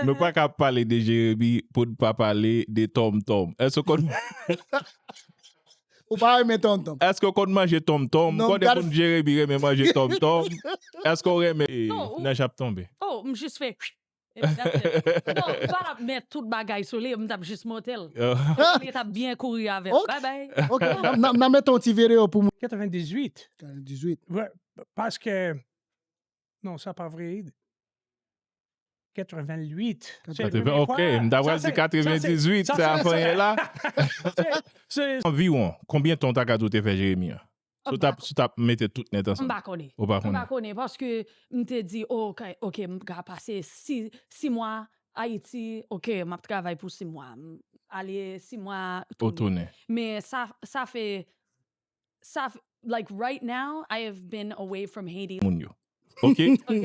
Nou pa ka pale de Jeremi pou n pa pale de tonmtonm. Èske w konn. Ou pa renmen tonmtonm? Èske w konn manje tonmtonm? M konnen moun Jeremi renmen manje tonmtonm. Èske w renmen. Nèj ap tonbe. O, m jis fè. Epi dat fèt. Non, m pa t ap met tout bagay sou li, m t ap jis monte l. Li t ap byen kouri avè m. Baybay. Ok, n ap mete yon ti videyo pou moun. 98. 98. Paske. Non, sa pa vre. 88. 80, ok, m ta pral di 98, sa a fanyen la. Anviwon, konbyen tan w ta ka di w te fè Jeremi an? Si w tap, si w tap mete tout nèt ansanm. M pa konnen. Ou pa konnen? M pa konnen, paske m te di ok, ok m ka pase 6, 6 mwa Ayiti, ok, m ap travay pou 6 mwa. Ale 6 mwa, tounen. Ou tounen. Men sa, sa fè sa fè like right now I have been away from Haiti. Moun yo. Ok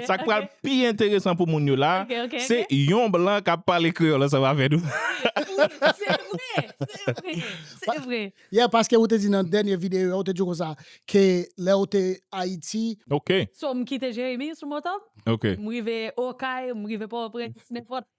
sak pral pi enteresan pou moun yo la se yon blan kap pale kreyòl ansanm avè nou. Se vre! Se vre! Se vre! Yeah paske ou te di nan dènye videyo a ou te di yo konsa ke lè ou te Ayiti. Ok. So m kite Jeremi sou moto m. Ok. M rive Okay, m rive Pòtoprens nenpòt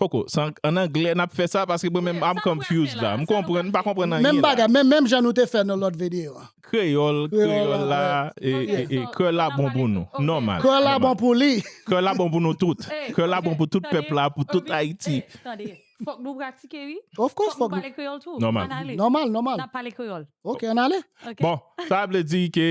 Poko, sa an anglè nap fè sa paske mwen menm I'm confused la. M konprann, m pa konprann anyen la. Menm bagay, menm jan nou te fè nan lòt videyo an. Kreyòl, kreyòl la, kreyòl la bon pou nou. Nòmal. Kreyòl la bon pou li. Kreyòl la bon pou nou tout. Kreyòl la bon pou tout pèp la, pou tout Ayiti. Tande, fòk nou pratike wi. Of course fòk nou. Fòk nou pale kreyòl tou. Nòmal. Ann ale. Nòmal, nòmal. Nap pale kreyòl. Ok, ann ale. Bon, sa vle di ke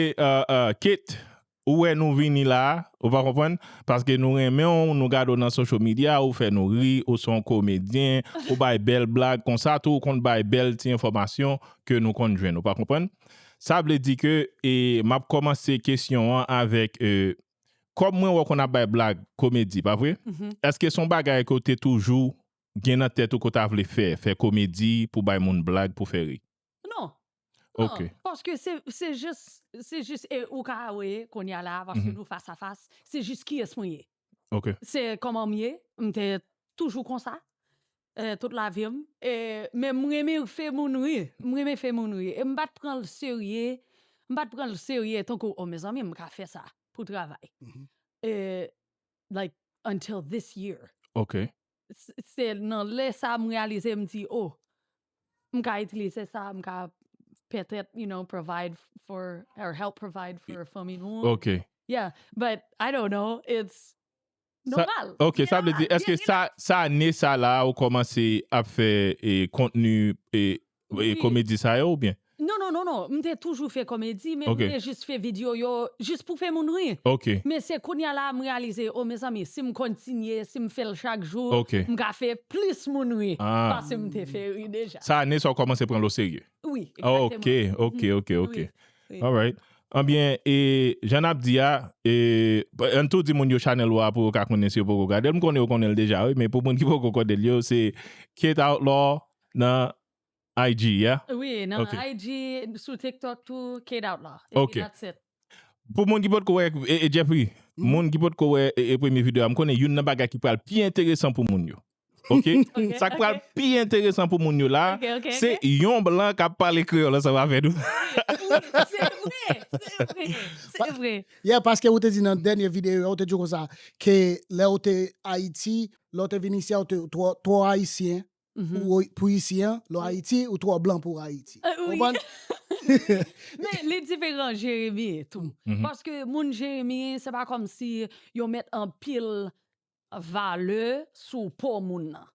Kate Ou wè nou vini la, ou pa konprann, paske nou renmen'w, nou gade'w nan social media, ou fè nou ri, ou son komedyen, ou bay bèl blag, konsa tou ou konn bay bèl ti enfòmasyon ke nou konn jwenn, ou pa konprann. Sa vle di ke e m'ap kòmanse kesyon an avèk e kòm mwen wè ou konn ap bay blag, komedi, pa vre? Eske son bagay ke ou te toujou gen nan tèt ou ke ou ta vle fè, fè komedi pou bay moun blag pou fè ri? Non. Ok. Paske se jis, se jis e ou ka we kounye a la paske nou fas a fas, se jis kiyès mwen ye. Ok. Se kòman m ye, m te toujou konsa tout lavi m. E men m renmen fè moun ri, m renmen fè moun ri. E m pa t pran l serye, m pa t pran l serye tankou o mezanmi m ka fè sa pou travay. E like until this year. Ok. Se nan lè sa m reyalize m di oh m ka itilize sa m ka pètèt you know provide for or help provide for fanmi nou an. Ok. Yeah but I don't know it's nòmal. Ok sa vle di eske sa ane sa la ou kòmanse ap fè kontni komedi sa yo oubyen? Non non non non m te toujou fè komedi men m te jis fè video yo jis pou fè moun ri men se kounya la m reyalize o mezanmi si m kontinye si m fè l chak jou m ka fè plis moun ri pase m te fè ri deja. Sa ane sa w kòmanse pran l o serye? Wi egzakteman. Ok ok ok alright anbyen e jan n ap di a an tou di moun yo chanèl ou a pou yo ka konnen si yo poko gade l m konnen yo konnen l deja wi men pou moun ki poko konnen l yo se K-It Outlaw Nan IG yeah? Wi nan IG sou tiktok tou K-doutlaw epi that's it. Pou moun ki potko wè Jeffry moun ki potko wè premye video a m konnen youn nan bagay ki pral pi enteresan pou moun yo ok sak pral pi enteresan pou moun yo la se yon blan kap pale kreyòl ansanm avè nou se vre se vre se vre yeah paske ou te di nan dènye video a ou te di konsa ke lèw te ayiti lèw te vin isi a ou te twò ayisyen pou isi an, lò Ayiti, ou twò blan pou Ayiti. Ou konprann? Men, li diferan Jeremie tou. Paske moun Jeremie, se pa kòm si yo met anpil valè sou po moun nan.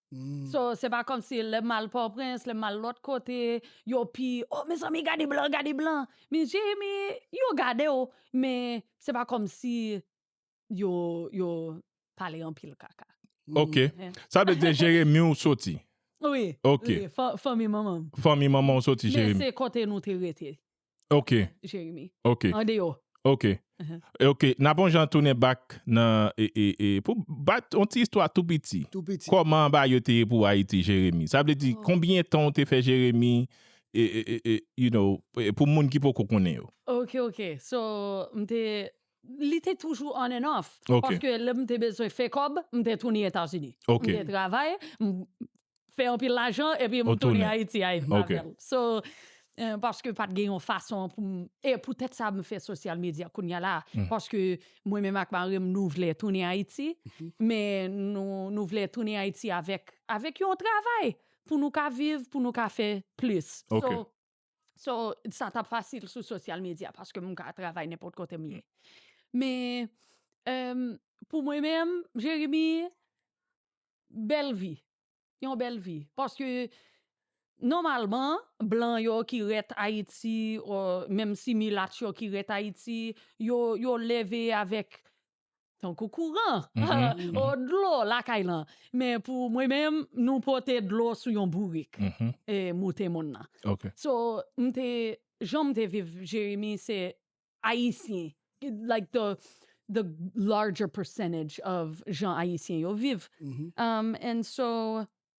So, se pa kòm si lè m al Pòprens, lè m al lòt kote, yo pi, o, mezanmi gade blan, gade blan. Men Jeremie, yo gade w, men se pa kòm si yo yo pale anpil kaka. Ok. Sa vle di Jeremi ou soti? Wi. Ok. Fanmi manman m. Fanmi manman ou soti Jeremi. Men se kote nou te rete. Ok. Jeremi. Ok. An deyo. Ok. Ok. N ap on jan tounen bak nan pou bat on ti istwa tou piti. Tou piti. Kòman ba yo te ye pou Ayiti Jeremi? Sa vle di konbyen tan ou te fè Jeremi you know pou moun ki poko konnen yo. Ok ok. So m te Li te toujou on and off. Ok. Paske lè m te bezwen fè kòb, m te tounin Etazini. Ok. M te travay, m fè anpil lajan epi m Ou tounin tounin. Ayiti avè l. Ok. So, eh, paske pa t gen yon fason pou m E poutèt sa m fè sosyal medya kounya la a. Paske mwen menm ak mari m nou vle tounin Ayiti, men nou nou vle tounin Ayiti avèk avèk yon travay pou nou ka viv, pou nou ka fè plis. Ok. So, So, sa t ap fasil sou sosyal medya paske m ka travay nenpòt kote m ye. Men, pou mwen menm, Jeremi, bèl vi. Yon bèl vi. Paske, nòmalman, blan yo ki ret Ayiti, menmsi milat yo ki ret Ayiti, yo leve avèk tankou kouran, ou dlo lakay lan. Men pou mwen menm, nou pote dlo sou yon bourik e moute moun nan. So, m te, jan m te viv Jeremi se Ayisyen, like the larger percentage of jan Ayisyen yo viv. And so,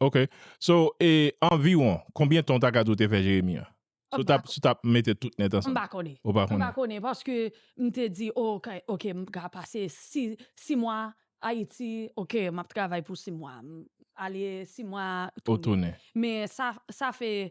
Ok, so e anviwon konbyen tan w ta ka di w te fè Jeremi an? Si w tap, si w tap mete tout nèt ansanm. M pa konnen. Ou pa konnen? M pa konnen paske m te di o ok, ok m ka pase si, si mwa Ayiti, ok m ap travay pou si mwa, m ale si mwa tounen. Ou tounen. Men sa, sa fè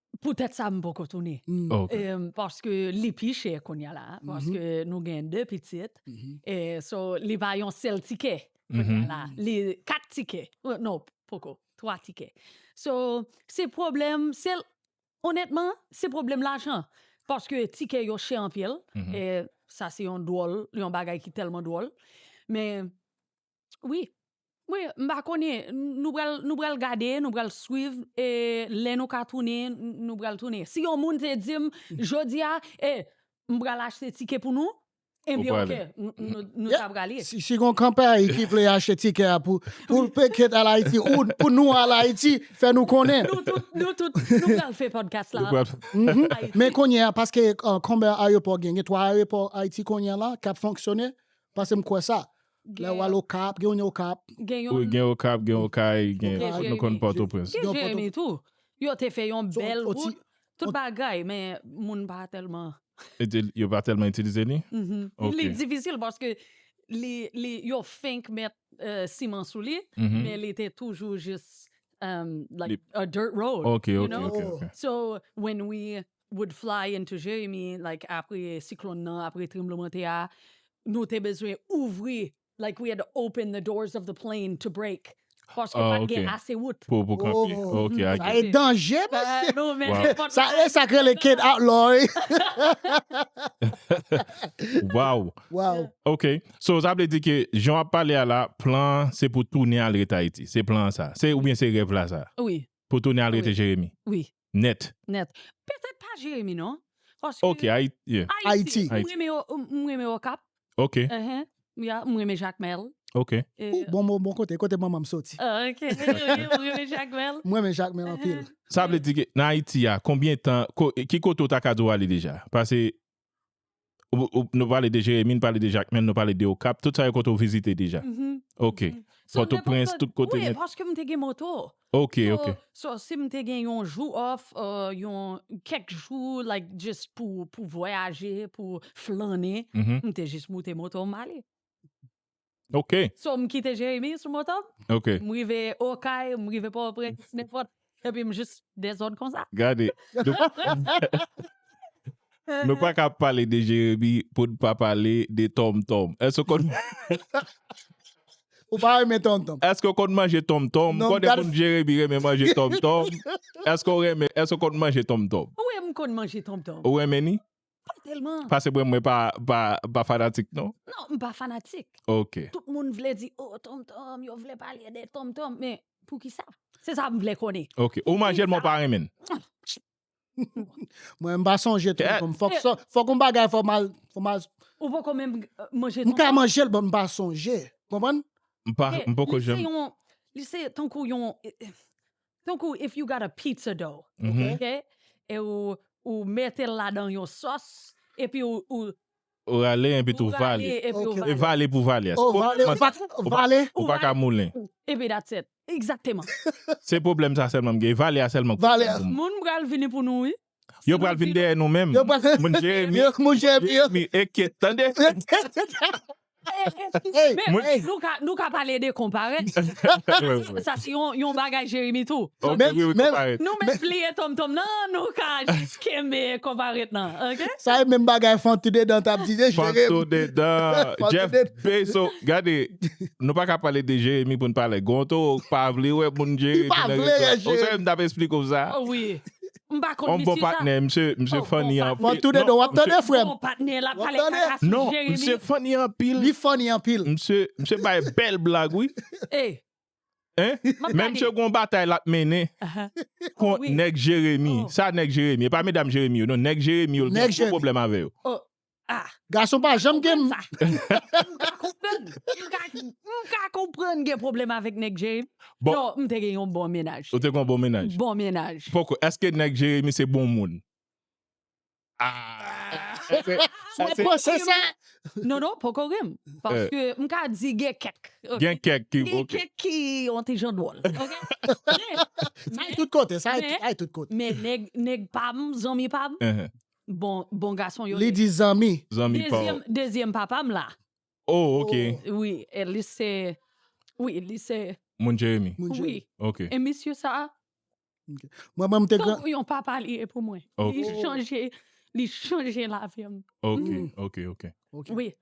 Pou tèt sa m poko tounen. Ok. Paske li pi chè kounya la. Paske nou gen 2 pitit. So li pa yon sèl tikè kounya la. Li 4 tikè. Non, poko. 3 tikè. So, se pwoblèm, se onètman, se pwoblèm lajan. Paske tikè yo chè anpil. Sa se yon dwòl, yon bagay ki tèlman dwòl. Men, Wi Wi m pa konnen nou pral nou pral gade nou pral swiv e lè nou ka tounen nou pral tounen si yon moun te dim jodia e m pral achte tike pou nou ebyen ok nou ta pral ye. Si gon kanpè ki vle achte tikè a pou pou l peke al Ayiti ou pou nou al Ayiti fè nou konnen. Nou tout nou tout nou pral fè podcast la Ayiti. Men kounye a paske konbyen ayopò gen gen 3 ayopò Ayiti kounye a la kap fonksyone paske m kwè sa Lè wal okap gen yon okap. Wi gen okap gen okay gen nou konn pòtoprens. Gen jeremi tou yo te fè yon bèl wout tout bagay men moun pa tèlman. Yo pa tèlman itilize li. Li difisil paske li yo fenk met siman sou li men li te toujou jis like a dirt road. Ok ok ok ok. So when we would fly into Jeremi like apre siklonn nan apre tranblemante a nou te bezwen ouvri like we had to open the doors of the plane to break paske pat gen ase wout pou pou kanpe ok i get it danje mesye nou men nenpòt sa e sak rele Kate outlaw wi waww waww ok so sa vle di ke jan wap pale a la plan an se pou tounen al ret ayiti se plan an sa se oubyen se rèv la sa wi pou tounen al rete Jeremi wi Nèt. Nèt. Petèt pa Jeremi non. Paske. Ok, Ayiti. Yeah. Ayiti. Ayiti. M renmen yo, m renmen Okap. Ok. Uh-huh. Yeah, m renmen Jakmèl. Ok. Yeah. Ooh, bon bon bon kote, kote manman m soti. Oh, ok. M renmen Jakmèl. M renmen Jakmèl anpil. Sa vle di ke nan Ayiti a, konbyen tan, ki kote ou ta ka di ou ale deja? Pase Nou pale de Jeremi, nou pale de Jakmèl, nou pale de Okap, tout sa yo kote ou vizite deja? Ok. Pòtoprens, tout kote nèt? Wi, paske m te gen moto. Ok, ok. So, si m te gen yon jou off, yon kèk jou like jis pou vwayaje, pou flannen, m te jis moute moto m ale. Ok. So m kite Jeremi sou moto m. Ok. M rive Okay, m rive Port-au-Prince, nenpòt, epi m jis dezòd konsa. Gade. Nou pa ka pale de Jeremi pou n pa pale de tonmtonm. Èske w konn Ou pa renmen tonmtonm? Èske w konn manje tonmtonm? Non, m Konnen moun Jeremi renmen manje tonmtonm. Èske w renmen, èske w konn manje tonmtonm? Wi, m konn manje tonmtonm. Ou renmen ni? Pa tèlman. Pase bwè mwen pa fanatik non. Non m pa fanatik. Ok. Tout moun vle di oh Tom Tom yo vle pale de Tom Tom men poukisa? Se sa m vle konnen. Ok. Ou manjel men w pa renmen l. Mwen m pa sonje Tom Tom fok sa fok yon bagay fok mal fok mal. Ou poko menm manje Tom Tom. M ka manjel men m pa sonje. Konprann? M poko janm. Li se tankou yon Tankou if you got a pizza dough, ok, e ou metel ladan yon sòs, epi ou. Ou rale enpi tou vale. Ou rale epi ou vale. Vale pou vale a. Ou vale ou pa vale. Ou pa ka moulen. Epi that's it. Exactement. Se pwoblèm sa sèlman m gen. Vale a sèlman ki pwoblèm pou mwen. Moun pral vini pou nou wi. Yo pral vin dèyè nou menm. Moun Jeremi. Moun Jeremi eke tande. Nou ka pale de konpare. Sa se yon bagay Jeremi tou. Nou menm pliye tonm tonm nan nou ka jis kenbe konpare nan. Sa e menm bagay Fantou Dedan tap di de Jeremi. Fantou Dedan Jeff Bezos gade nou pa ka pale de Jeremi pou nou pa ale gonto pa vle wè moun Jeremi. Li pa vle wè Jeremi. Ou sa e m tap esplike w sa. M pa konn misye sa. Misye funny anpil. Bon patnè. Wap tande frèm. Bon patnè lap pale kaka sou Jérémie. Non misye funny anpil. Li funny anpil. Misye bay bèl blag wi. Hey. Hein. Men misye gon batay lap mennen kont nèg Jérémie. Sa nèg Jérémie. E pa medam Jérémie yo non. Nèg Jérémie yo l gen gwo pwoblèm avè yo. Ah. Gason pa janm gen m. Mka konprann gen problem avèk nèg Jérémie. Bon. Non, m te gen yon bon menaj. Ou te kon bon menaj. Bon menaj. Poko, eske nèg Jérémie se bon moun? Mwen panse sa. Non non, poko gen m. Paske m ka di gen kèk. Gen kèk ki ok. Gen kèk ki yon ti jan dwòl. Ok. Sa ay tout kote, sa ay tout kote. Men nèg, nèg pa m, zanmi pa m. Bon bon gason yo ye. Li di zanmi. Zanmi pa w. Dezyèm papa m la. Oh ok. Wi e li se wi li se. Moun Jeremi. Moun Jeremi. Wi. Ok. E misye sa a. Ok. Mwen menm te gran. Tankou yon papa li ye pou mwen. Ok. Li chanje li chanje lavi m. Ok ok ok. Wi.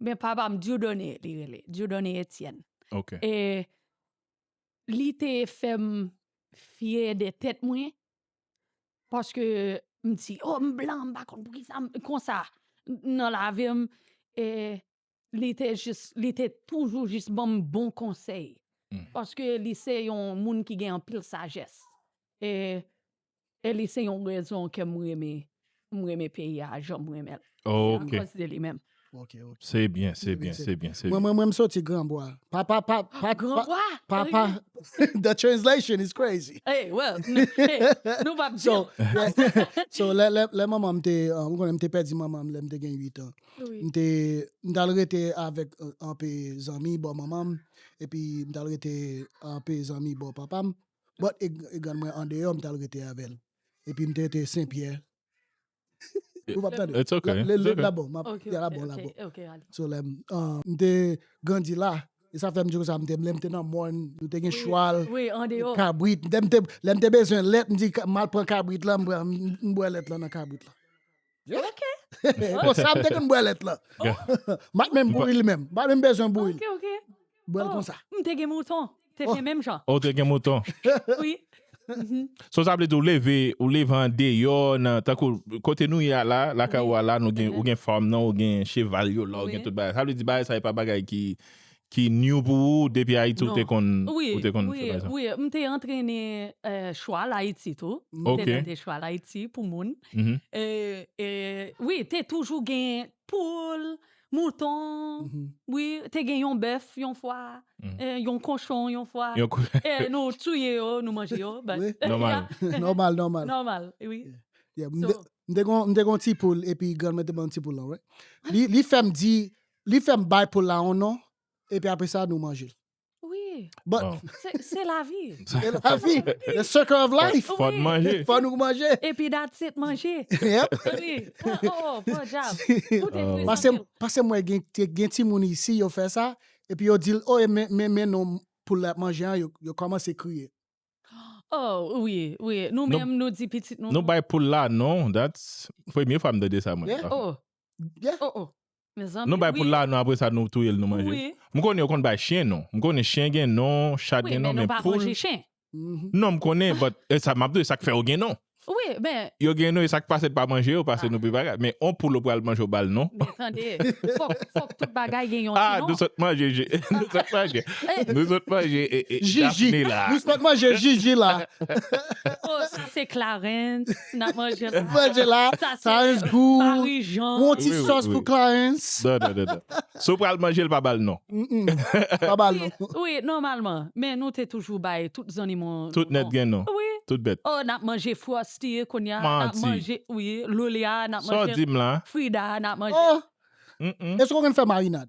Men papa m Dieudonné li rele, Dieudonné Etienne. Ok. E li te fè m fyè de tèt mwen, paske m di, o m blan, m pa konn poukisa m konsa nan lavi m. E li te jis, li te toujou jis ban m bon konsèy. Paske li se yon moun ki gen anpil sajès. E E li se yon rezon ke m renmen m renmen peyi a jan m renmen l. Se akòz de li menm. Se byen, se byen, se byen. Mwen mwen m soti granbwa. Pa pa pa pa Granbwa? Pa pa The translation is crazy. Hey well Nou pa p di l. So lè manman m te ou konnen m te pèdi manman m lè m te gen 8 an. M te m t al rete avèk anpe zanmi bò manman m epi m t al rete anpe zanmi bò papa m. But e grann mwen andeyò m tal rete avèl epi m te rete Sen Pyè Ou pap tande It's ok La bon map ya la bon la bon Ok ok ale So lèm m te grandi la e sa fèm di konsa m te lèm te nan mòn nou te gen chwal Wi andeyò Kabrit lèm te lèm te bezwen lèt m di mal pran kabrit la m bwè lèt la nan kabrit la. Ok. Bon, sa m te konn bwè lèt lan. Mat menm bouri li menm. Ba menm bezwen bouri li. Ok, ok. Bwè l konsa. M te gen mouton. Te fè menm jan. Ou te gen mouton. Oui. So sa vle di ou leve, ou leve an deyò nan tankou kote nou ye a la, lakay ou a la nou gen ou gen farm nan, ou gen cheval yo la, ou gen tout bagay. Sa vle di bagay sa e pa bagay ki ki new pou ou depi ayiti ou te konn ou te konn fè bagay sa? Wi wi m te antrene chwal ayiti tou m te mete chwal ayiti pou moun wi te toujou gen poul mouton wi te gen yon bèf yon fwa yon konchon yon fwa nou touye yo nou manje yo nòmal nòmal nòmal nòmal wi m te gen yon ti poul epi grann mwen te ban m ti poul lan li fè m di Li fèm bay poul la yon non epi apre sa nou manje l. Wi. Bon. Se lavi. Se lavi. The circle of life. Fò n manje. Fò nou manje. Epi that's it manje. Yep. Wi. Oh bon dyab. Ou te fri san pil. Pase m wè gen timoun isi yo fè sa epi yo di l oh men non poul la yap manje an yo kòmanse kriye. Oh wi wi nou menm nou di pitit nou. Nou bay poul la non that's premye fwa m tande sa mwen. Yeah. Oh. Yeah. Oh oh. Nou bay poul la non apre sa nou touyel nou manje m konnen yo konn bay chien non m konnen chien gen non chat gen non men poul non m konnen but esa map di sak fè yo gen non yo gen non esak pasel pa manje yo pase nou pi bagay men on poul ou pral manje ou bal non a nou sot manje nou sot manje nou sot manje jiji nou sot manje jiji la. Si nap manje la. Manje la. Sa se Marijan. Yon ti sòs pou Clarens. Non non non non. Si w pral manje l pa ba l non. Pa ba l non. Wi nòmalman. Men nou te toujou bay tout zannimo nou non. Tout nèt gen non. Wi. Tout bèt. Oh nap manje Frosty kounya. Manti. Nap manje wi Lolia nap manje. Sa w di m la. Frida nap manje. Oh. Eske w konn fè marinad?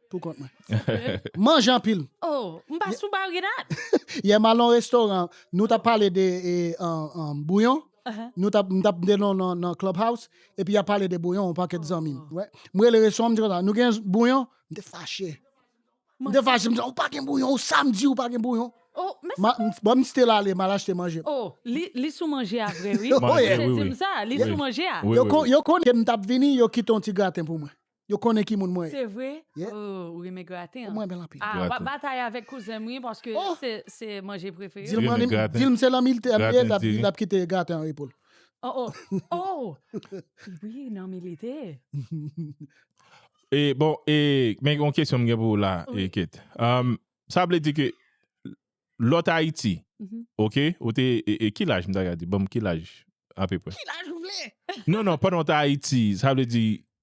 Pou kont mwen. M manje anpil. Oh, m pa sou bari dat. Yè m al nan restoran, nou t ap pale de bouyon. Nou t ap, m t ap tande nou nan Clubhouse, epi y ap pale de bouyon yon pakèt zanmi m. M rele restoran an, m di konsa, nou gen bouyon? M te fache. M te fache, m di, ou pa gen bouyon, ou samdi ou pa gen bouyon. Oh, men sa. Bon, m still ale, m al achte manje. Oh, li sou manje a vre wi. Manje, wi, wi. Li sou manje a. Yo konnen ke m t ap vini, yo kite yon ti graten pou mwen. Yo konnen ki moun mwen ye. Se vre? Ooh ou renmen graten an. Mwen renmen l anpil. Ah wap batay avek kouzenm wi paske se manje prefere m. Dil m se lan militè m ye lap kite graten an repo l. Oh oh oh wi nan milite. E bon e men yon kesyon m gen pou ou la e Kate. Sa vle di ke lè w t Ayiti ok ou te e ki laj m ta ka di banm ki laj apeprè. Ki laj ou vle? Non non pandan w t Ayiti sa vle di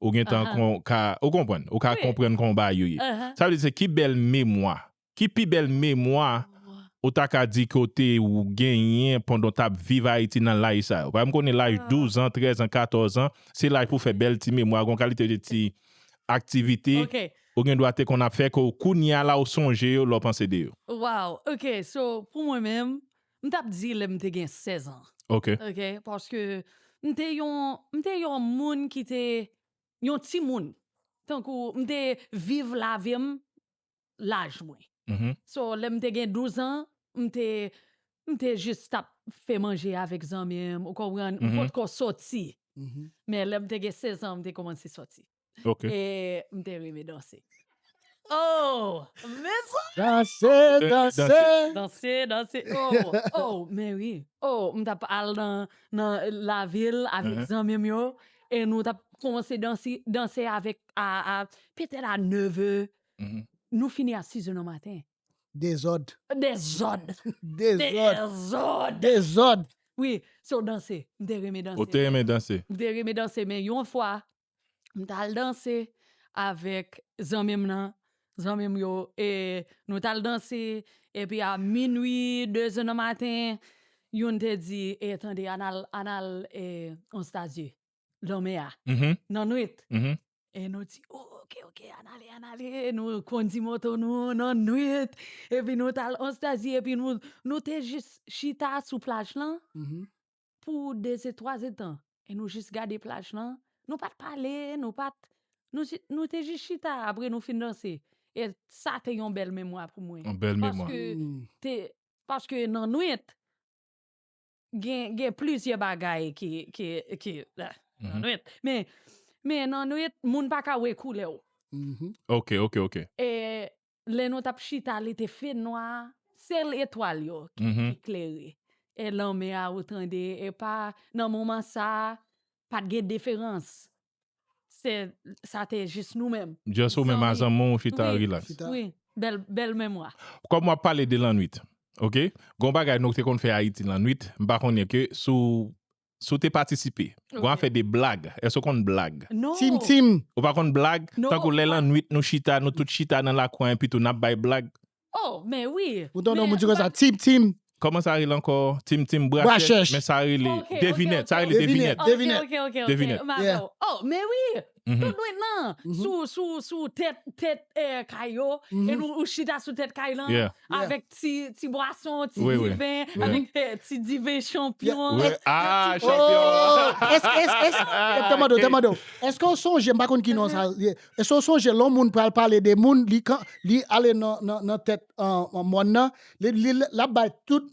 ou gen tan kon ka, ou konprann, ou ka konprann kon ba yo ye. Sa vle di se ki bèl memwa, ki pi bèl memwa ou ta ka di ke w te ou genyen pandan w t ap viv Ayiti nan laj sa yo? Paske m konnen laj douzan, trèzan, katòzan, se laj pou w fè bèl ti memwa, gon kalite de ti aktivite ou gen dwa te konn ap fè ke w kounye a la ou sonje yo lè w panse de yo. Waw, ok, so pou mwen menm, M t ap di lè m te gen 16 an. Ok. Ok, paske m te yon, m te yon moun ki te, yon timoun. Tankou m te viv lavi m laj mwen. So, lè m te gen 12 an, m te, m te jis t ap fè manje avèk zanmi m, ou konprann, m potko soti. Men lè m te gen 16 an, m te kòmanse soti. Ok. E m te renmen danse. Oh! Men sa! Danse, danse! Danse, danse! Oh! Oh! Men wi! Oh! M t ap al nan lavil avèk zanmi m yo e nou t ap koumanse danse, danse avèk a, a, petèt a neve. Nou fini a sizè nan maten. Dezòd. Dezòd! Dezòd! Dezòd! Dezòd! Wi, so danse. M te renmen danse. Ou te renmen danse? M te renmen danse men yon fwa, m tal danse avèk zanmi m nan zanmi m yo e nou tal danse epi a minwi deze nan maten youn te di e tande ann al ann al e anstazye lanmè a nan nwit e nou di ok ok ann ale ann ale nou kondi moto nou nan nwit epi nou tal anstazye epi nou nou te jis chita sou plaj lan pou de ze twa ze tan e nou jis gade plaj lan nou pat pale nou pat nou te jis chita apre nou fin danse e sa te yon bèl memwa pou mwen paske nan nwit gen plizyè bagay ki nan nwit men nan nwit moun pa ka wè koulè ou e Lè nou t ap chita li te fenwa Sèl etwal yo ki klere E lanmè a ou tande E pa nan moman sa a Pa t gen deferans Se sa te jis nou menm Just ou menm a zanmi w chita relax Wi bèl bèl memwa Kòm w ap pale de lannwit Ok Gon bagay nou te konn fè Ayiti lannwit M pa konnen ke si w Si w te patisipe. Gon afè de blag. Èske w konn blag? Tim tim. Ou pa konn blag? Tankou lè lannuit nou chita, nou tout chita nan lakou an epitou n ap bay blag? Ou tande yon moun di konsa, Tim tim. Kòman sa rele ankò? Tim tim brachèch. Men sa rele devinèt. Sa rele devinèt. Devinèt. Devinèt. Devinèt. Tout dwe nan, sou tèt kay yo, e nou ou chita sou tèt kay lan, avèk ti bwason, ti diven, avèk ti diven chanpyon. Aaa, chanpyon. Te mande ou, te mande ou, eske ou sonje, m pa konn ki non sa ye, eske ou sonje lè yon moun pral pale de moun, li ale nan tèt mòn nan, li ap bay tout,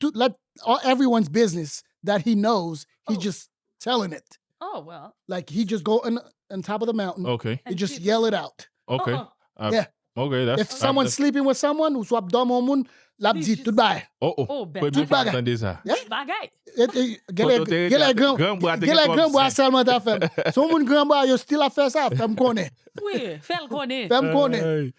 tout let all everyone's business that he knows he Oh. just telling it Oh well. like he just go on, on top of the mountain Ok, and and just people- yell it out ok. Uh-uh. Ah, Yeah. Ok, that's... if someone's sleeping with someone ou swap dòm on moun lap He di just- tout bay Oh, oh, Oh, ben, premye tout fwa m bagay. tande sa. Yeah. Bagay. Et- et- Kote ou te rete gèlè a te- gran gran bwa te gen gèlè twòp gran bwa zen. sèlman ta fèm son moun gran bwa yo still ap fè sa fèm konnen Oui, fè l konnen. fèm konnen Ay.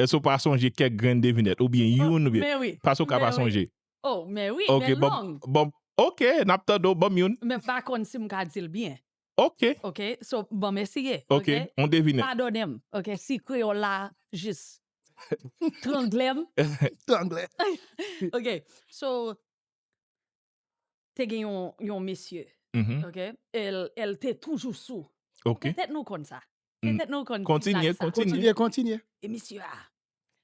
Èske w pa sonje kèk grenn devinèt oubyen youn oubyen. Men wi. Pase w ka pa sonje. O, men wi, men long. Banm, ok, n ap tande w, banm youn. Men m pa konn si m ka di l byen. Ok. Ok, so banm eseye. Ok, on devinèt. Padone m, ok, si kreyòl la jis trangle m. Trangle. Ok, so. te gen yon mesye, ok, el te toujou sou. Ok. Petèt nou konn sa. Petèt nou konn blag sa. Kontinye, kontinye. Kontinye, kontinye. E mesye a,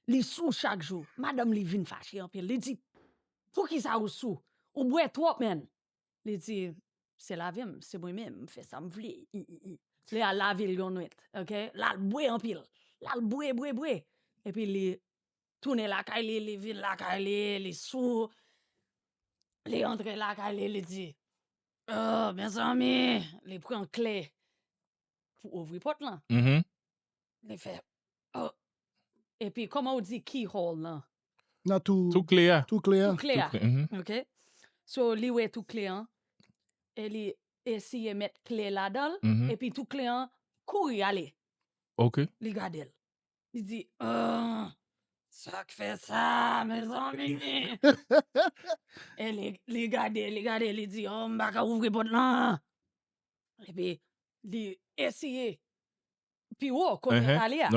li sou chak jou. Madanm li vin fache anpil. Li di, poukisa ou sou? Ou bwè twòp menn. Li di, se lavi m, se mwen menm, m fè sa m vle. Li al lave l yon nwit, ok. L al bwè anpil. L al bwè, bwè, bwè. Epi li tounen lakay li, li vin lakay li, li sou, li antre lakay li, li di, oh, mezanmi, li pran kle pou ouvri pòt lan, li fè, oh, epi kòman ou di key hole lan? Nan tou, tou kle a, tou kle a, tou kle a, ok, so li wè tou kle an, e li eseye met kle ladan l, epi tou kle an kouri ale, ok, li gade l. Li di, Ohh! Sa k fè sa a, mezanmi? E li gade, li gade, li di, Ohh, m pa ka ouvri pòt lan! Epi, li eseye pi wo kote l prale a.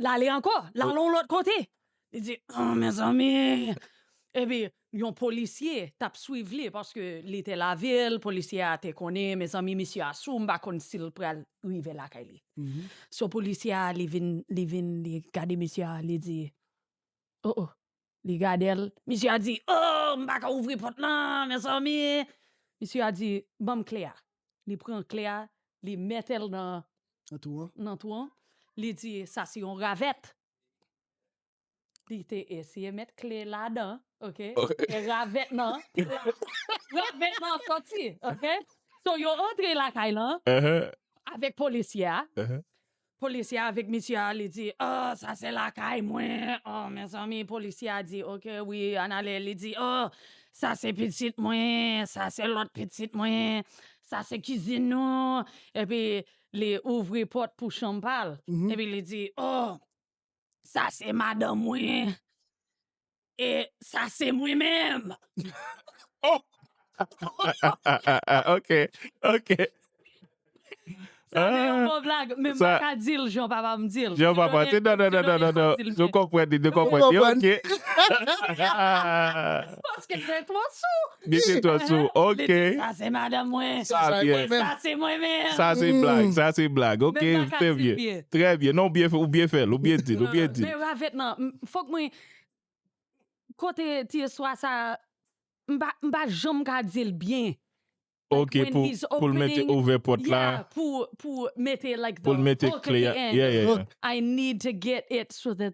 L ale ankò, l al yon lòt kote. Li di, oh mezanmi! Epi, yon polisye t ap swiv li, paske li te lavil, polisye a te konnen, mezanmi misye a sou, m pa konn si l pral rive lakay li. So polisye a li vin, li vin, li gade misye a, li di, oh oh, li gade l, misye a di, oh, m pa ka ouvri pòt lan, mezanmi! Misye a di, ban m kle a. Li pran kle a, li mete l nan. Nan twou an. Nan twou an. Li di, sa se yon ravèt. Li te eseye met kle ladan ok e ravèt nan ravèt nan soti ok so yo antre lakay lan avèk polisye a polisye a avèk misye a li di oh sa se lakay mwen oh mezanmi polisye a di ok wi ann ale li di oh sa se pitit mwen sa se lòt pitit mwen sa se kizin nou epi li ouvri pòt pou chanm pa l epi li di oh. Sa se madanm mwen e sa se mwen menm. Ok, ok. Sa se yon bon blag, men m pa ka di l jan papa m di l. Jan papa, se nan nan nan nan nan nan, nou konprann li, nou konprann li, ok. Paske mwen twò sou. Mete to sou ok. Sa se madanm mwen. Sa se mwen menm. Sa se blag. Sa se blag. Ok. Trè byen. Trè byen. Non ou byen fèl. Ou byen dil. Ou byen dil. Men ravèt nan. Fok mwen. Kote ti eswa sa. M pa janm ka dil byen. Ok pou l mete ouvè pot la. Yeah pou mete like the hook at the end. Yeah yeah yeah. I need to get it so that.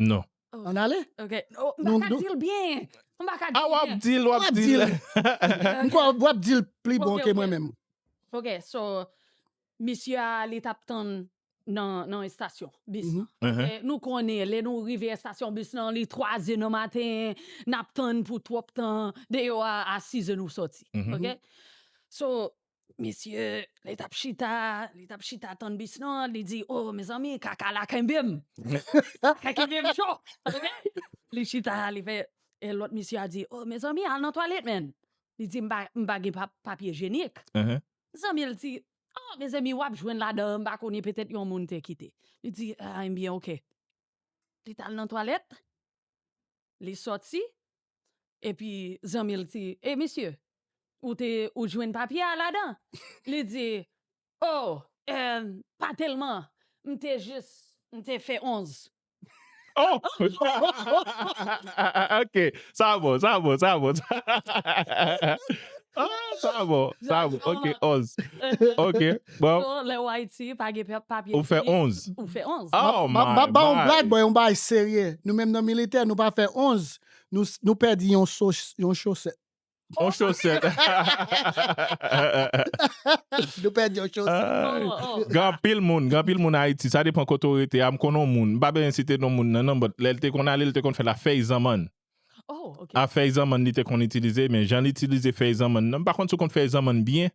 Non. An ale? Ok. Oh, m pa ka di l byen. M pa ka di l byen. Ah, w ap di l, w ap di l. M kwè w ap di l pli bon ke mwen menm. Ok, so, misye a li t ap tann nan estasyon bis lan. E nou konnen, lè nou rive estasyon bis lan, li twaze nan maten, n ap tann pou twòp tan, deyò a, a sizè nou soti. Ok? So, Mesye, li tap chita, li tap chita tann bis lan, li di, o, mezanmi, kaka la kenbe m. Kaka kenbe m cho. Li chita, li fè, e lòt mesye a di, o, mezanmi, al nan twalèt menn. Li di, m pa, m pa gen papye jenik. Zanmi l di, o, mezanmi, wap jwenn ladan an, m pa konnen, petèt yon moun te kite. Li di, a, enbyen, ok. Li tal nan twalèt, li sòti, epi zanmi l di, e misye, ou te, ou jwenn papye a ladan? Li di, o, e, pa tèlman, m te jis, m te fè 11. O! Ok, sa bon, sa bon, sa bon. O, sa bon, sa bon, ok, 11. Ok. Bro. So lè ou Ayiti pa gen papye Ou fè 11. Ou fè 11. Oh my Map map baw on blag my. bò yon bagay serye nou menm nan militè nou pa fè 11 nou nou pèdi yon so yon chosèt On chosèt. nou pèdi yon chosèt Ay. Oh oh. Gen anpil moun, gen anpil moun Ayiti, sa depan kote ou rete a, m konn on moun, m pa bezwen site non moun nan non but lè l te konn ale l te konn fè la fèy zanmann. Oh ok. A fèy zanmann li te konn itilize men jan l itilize fèy zanmann nan, m pa konn si w konn fèy zanmann byen.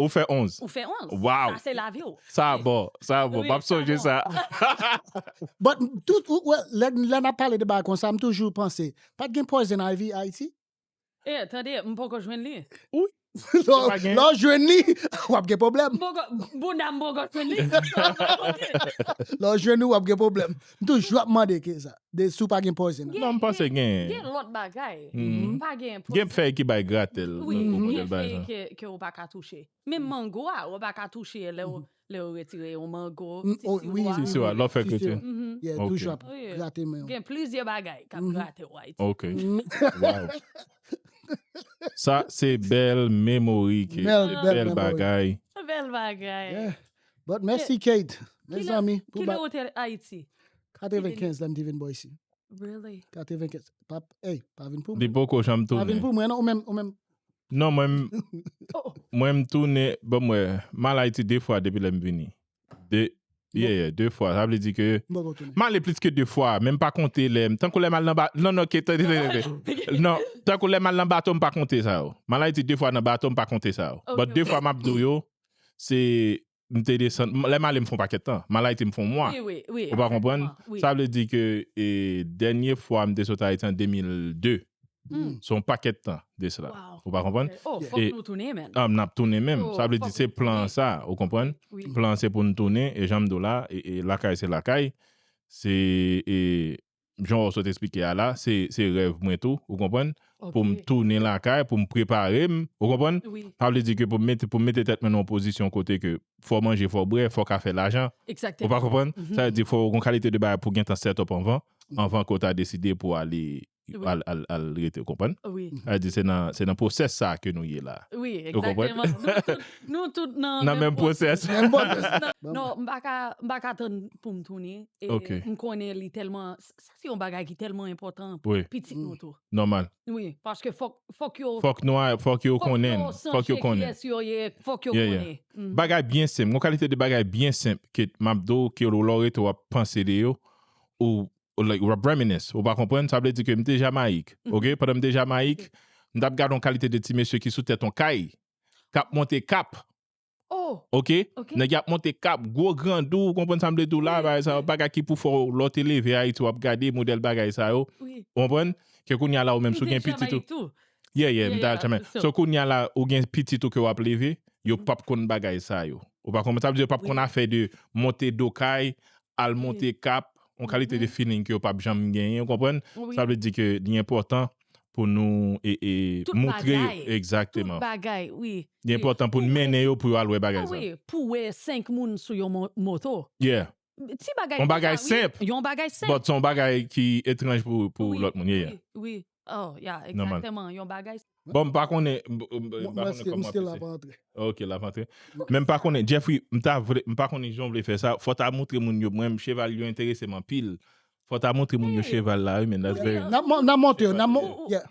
Ou fè 11. Ou fè 11. Waww. Sa se lavi w. Sa a bon. Sa a bon. M ap sonje sa a. But tout ou wè lè lè n ap pale de bagay konsa m toujou panse pa t gen poison ivy Ayiti? Eh tande m poko jwenn li. Ui. Lè w lè w jwenn li w ap gen pwoblèm. M poko bounda m poko jwenn li. Lè w jwenn li w ap gen pwoblèm. M toujou ap mande keza de si w pa gen pòze nan. Non m panse gen. Gen lòt bagay. Pa gen pòze. Gen fèy ki bay gratèl. Wi gen fèy ke w pa ka touche. Menm mango a ou pa ka touche lè w lè w retire yon mango ti siw a. Lè w fè kritè. Yeah toujou ap grate men w. Gen plizyè bagay k ap grate w Ayiti. Ok waw sa se bèl memori ke bèl bagay. Bèl bagay. But mèsi Kate mezanmi pou bat. Kilè ou te Ayiti? 95 lèm te vin bò isi. Really? 95 pa ey pa vin pou mwen. Li poko janm tounen. Pa vin pou mwen non ou menm ou menm. Non mwen mwen m tounen banm wè m al Ayiti 2 fwa depi lèm vini. 2 yeah yeah 2 fwa sa vle di ke m ale plis ke 2 fwa men m pa konte lèm tankou lèm al nan bato non non Kate tande tande tande non tankou lèm al nan bato m pa konte sa yo. M al Ayiti 2 fwa nan bato m pa konte sa yo but 2 fwa map di w yo se m te desann, lè m ale m fè yon pakèt tan, m al Ayiti m fè yon mwa, ou pa konprann, sa vle di ke dènye fwa m te sot Ayiti an 2002, se yon pakèt tan de sela, ou pa konprann, n ap tounen menm, sa vle di se plan an sa, ou konprann, plan an se pou n tounen, e jan m di w la, lakay se lakay, se. jan ou sot esplike a la, se rèv mwen tou, ou konprann, pou m tounen lakay, pou m prepare m, ou konprann, sa vle di ke pou m mete tèt mwen nan yon pozisyon kote ke fò manje, fò bwè, fò ka fè lajan, ou pa konprann, sa vle di fò yon kalite de bagay pou gen tan set up anvan, anvan ke ou ta deside pou ale, al rete, ou konprann, sa vle di se nan pwosès sa ke nou ye la, ou konprann. Nou tout nan nan menm pwosès. Non, m pa ka, m pa ka tann pou m tounen. E m konnen li tèlman, sa se yon bagay ki tèlman enpòtan pou pitit nou tou. Nòmal. Wi, paske fòk, fòk yo. Fòk nou a, fòk yo konnen. Fòk yo konnen. Fòk yo santi kiyès yo ye, fòk yo konnen. Bagay byen senp, yon kalite de bagay byen senp ke m ap di w ke lè w rete w ap panse de yo, ou like ou ap reminisce, ou va konprann. Sa vle di ke m te Jamayik, ok? Pandan m te Jamayik, m t ap gade yon kalite de ti mesye ki sou tèt yon kay. kap monte kap ok nèg yap monte kap gwo grandou ou konprann sa m vle di w la bagay sa yo bagay ki pou fè w lè w te leve ayiti wap gade modèl bagay sa yo ou konprann ke kounya la ou menm si w gen pitit ou ye ye m ta al chamayi tou so kounya la ou gen pitit ou ke wap leve yo pap konn bagay sa yo ou pa konprann sa m vle di yo pap konn afè de monte do kay al monte kap yon kalite de feeling ke yo pap janm genyen ou konprann sa vle di ke li enpòtan pou nou moutre yo exactement li enpòtan pou nou mennen yo pou yo al wè bagay sa yo pou wè 5 moun sou yon moto yon bagay senp but son bagay ki etranj pou lòt moun bon mpa konnen ok lap antre men mpa konnen Jeffry mpa konnen kijan ou vle fè sa fò ta moutre moun yo mwen cheval yo enteresem anpil Fò ta montre moun yo cheval la wi men that's very nice. Nap nap montre nap mon yeah.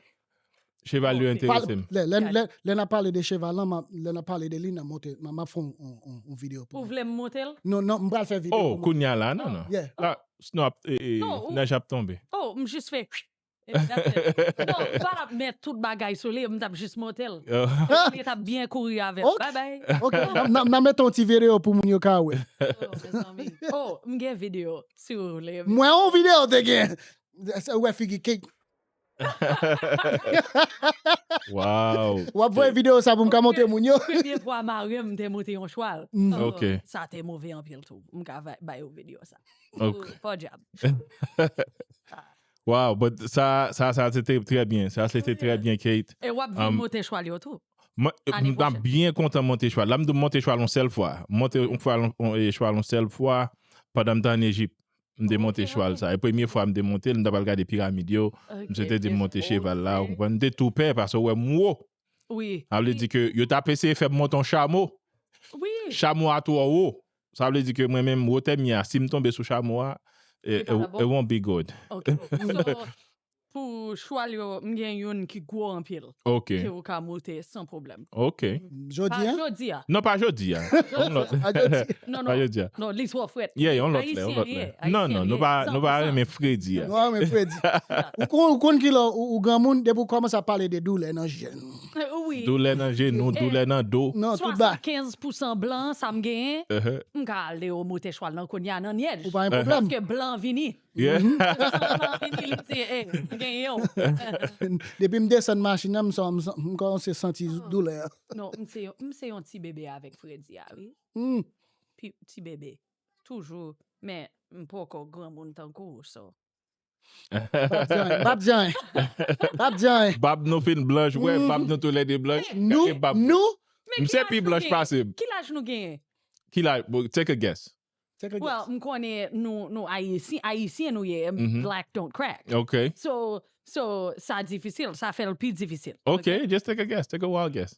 Cheval yo enterese m. Lè lè lè nap pale de cheval lan map lè nap pale de li nap montre map map fè yon yon yon video pou Ou vle m monte l? Non non m pral fè video Oh pou moun. kounya la non non Yeah. La snow ap e e Non ou nèj ap tonbe. Oh m jis fè Exactement. Non, m pa tap met tout bagay sou li, m tap jis monte l. Epi li tap byen kouri avè m. Bye bye. Ok, n a mete yon ti video pou moun yo ka wè. Oh, mezanmi. Oh, m gen video, si w vle. M wè yon video te gen. Ou wè figi Kate. Wow. W ap voye video sa pou m ka montre moun yo? Premye fwa mari m te monte yon chwal. Ok. Sa te move anpil tou. M ka bay ou video sa. Ok. Podyab. Waw but sa sa sa se te trè byen sa se te trè byen Kate. E wap vin moute chwal yo tou. Mwen tap byen kontan monte chwal la m tou monte chwal yon sèl fwa m monte chwal yon sèl fwa pandan m t an Ejip m te monte chwal sa e premye fwa m te monte l m t apral gade piramid yo misye te di m monte cheval la ou konprann m te tou pè paske wè m wo sa vle di ke yo tap eseye fè m monte yon chamo chamo a twò wo Sa vle di ke mwen menm wotè m ye a si m tonbe sou chamo a Li pa ka bon? it won't be good. Ok. So, pou chwal yo, m gen youn ki gwo anpil Ok, ke ou ka moute san pwoblèm. ok. Pa Jodi a? jodi a. Non pa jodi a. Yon lòt. Pa jodi. Non, Pa non. jodi a. Non, li twò frèt. Yeah, yon lòt lè, yon Ayisyen lòt li lè. ye. Non, Ayisyen non, li nou ye. pa, nou pa 100%. renmen fredi a. Nou pa renmen fredi. Ou konn, ou konn ki lè ou, ou granmoun, depi ou kòmanse ap pale de doulè nan je. Wi. Doulè nan jenou, doulè nan do. Non, tout ba. 75 pousan blan sa m genyen, m ka ale yo moute chwal nan kounye a nan nyèj. Ou pa gen pwoblèm. Paske blan vini. Pousan blan vini li di e, m genyen w. Depi m desann machin nan, m kòmanse santi doulè a. Non, m se yon ti bebe avèk fredi a wi. Ti bebe. Toujou. Men, m poko granmoun tankou w so. Bab Jan, Bab Jan, Bab Jan. Bab nou fin blanch vre, bab nou tou lè 2 blanch. Gade bab nou. Misye pi blanch pase m. Ki laj nou genyen? Ki laj, take a guess. Take a guess. Well, m konnen nou Ayisyen, Ayisyen nou ye, black don't crack. Ok. So, so, sa difisil, sa fè l pi difisil. Ok, just take a guess, take a wild guess.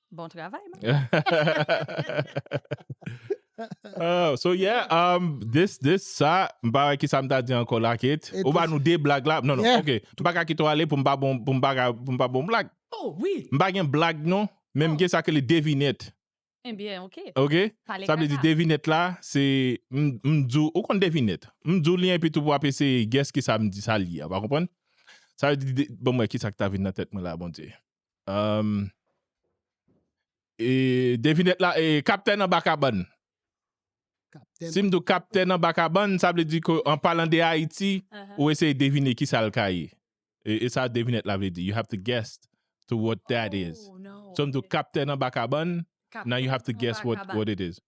Bon travay, man. Uh, so yeah, um, this, this, sa, m pa wè ki sa m ta di ankò la, Kate. Et Ou ba this- nou de blag la. Non, non, Yeah. ok. M pa ka kite ou ale pou m pa bon, pou m pa, ka- pou m pa bon blag. Oh, oui. M pa gen blag non, men m Oh. gen sa ke li devinet. Eh bien, OK. Ok? Pale Sa vle di kaka. devinet la, se m m dou, ou konn devinet. M dou li epi tou pou ap eseye guess ki sa m di sa li, a, pa konprann? Sa vle di, de- bon mwen ki sa ki ta vin nan tèt mwen la, bon Dieu. Devinèt la e kaptèn anba kabann. Si m di w kaptèn anba kabann, sa vle di ke an palan de Ayiti, ou eseye devine ki sa l ka ye. E sa devinèt la vle di. You have to guess to what that is. Si m di w kaptèn anba kabann, now you have to guess what it is.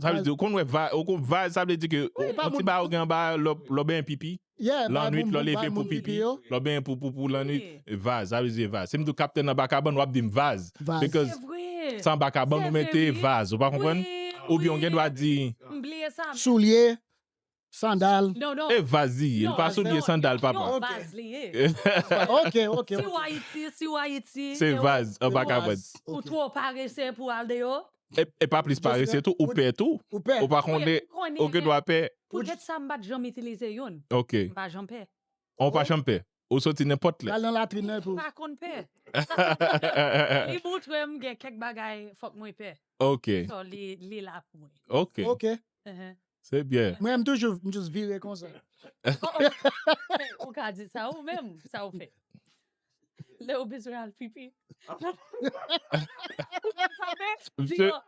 Sa vle di ou konn wè vay, ou konn vay sa vle di ke Wi, pa on ti moun- bagay ou gen anba lò lò benyen pipi. Yeah, bay Lannwit moun- lò bay leve pou moun pipi pipi yo. lò benyen pou pou pou lannwit. Wi. Vaz, sa vle di vaz. Si m di ou kaptèn anba kabann wap di m vaz. Vaz. Because Se vre. se anba kabann Se ou vre, mete oui. vaz, ou pa konprann? Oui, Oubyen ou gen dwa oui. di M bliye sa. Soulye, Sandal. E vaz li ye, li pa soulye, sandal papa. Ok. Vaz li ye. Ok, ok, ok. Si w Ayiti, si w Ayiti. Se vaz, an pa kapad. Ou two parese pou al deyo. E pa plis parese tou, ou pè tou. Ou pè. Ou pa konde, ou gen dwa pè. Pou get sa m pat janm itilize youn. Ok. M pa janm pè. An w pa janm pè. Ou soti nenpòt lè. Pral nan latrin nan epi ou. Pa konn pè. Li montre m gen kèk bagay fòk mwen pè. Ok. So li la pou mwen. Ok. Ok. Se byen. Mwen m toujou m just vire konsa. Ou ka di sa ou menm sa ou fè. Lè ou bezwen al pipi. Ou pa fè.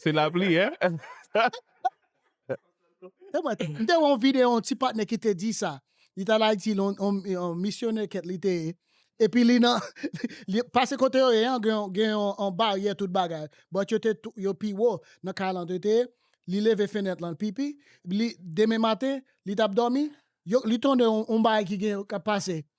Se lapli e. M te wè yon videyo yon ti patnè ki te di sa. Li t al Ayiti, yon misyonè kèt li te ye. Epi li nan, pase kote yo ye an, gen yon baryè tout bagay. Bòt yo te, yo pi wo nan kay lan yo te ye. Li leve fenèt lan, l pipi. Demen maten, li t ap dòmi, li tande yon bagay ki gen, k ap pase.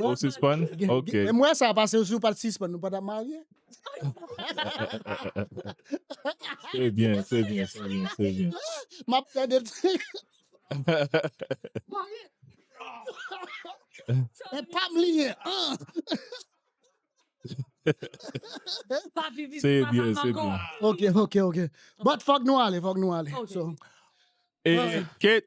Ou sispann? Ok. Gen- Mwen sa pase ou si ou pat sispann nou pa tap marye. Se byen, se byen, se byen, se byen. Map fè de E pam li ye. An. Pa vivi Se pa byen, sa se mango. byen. Ok, ok, ok. But fòk nou ale, fòk nou ale. Ok. So, E Kate,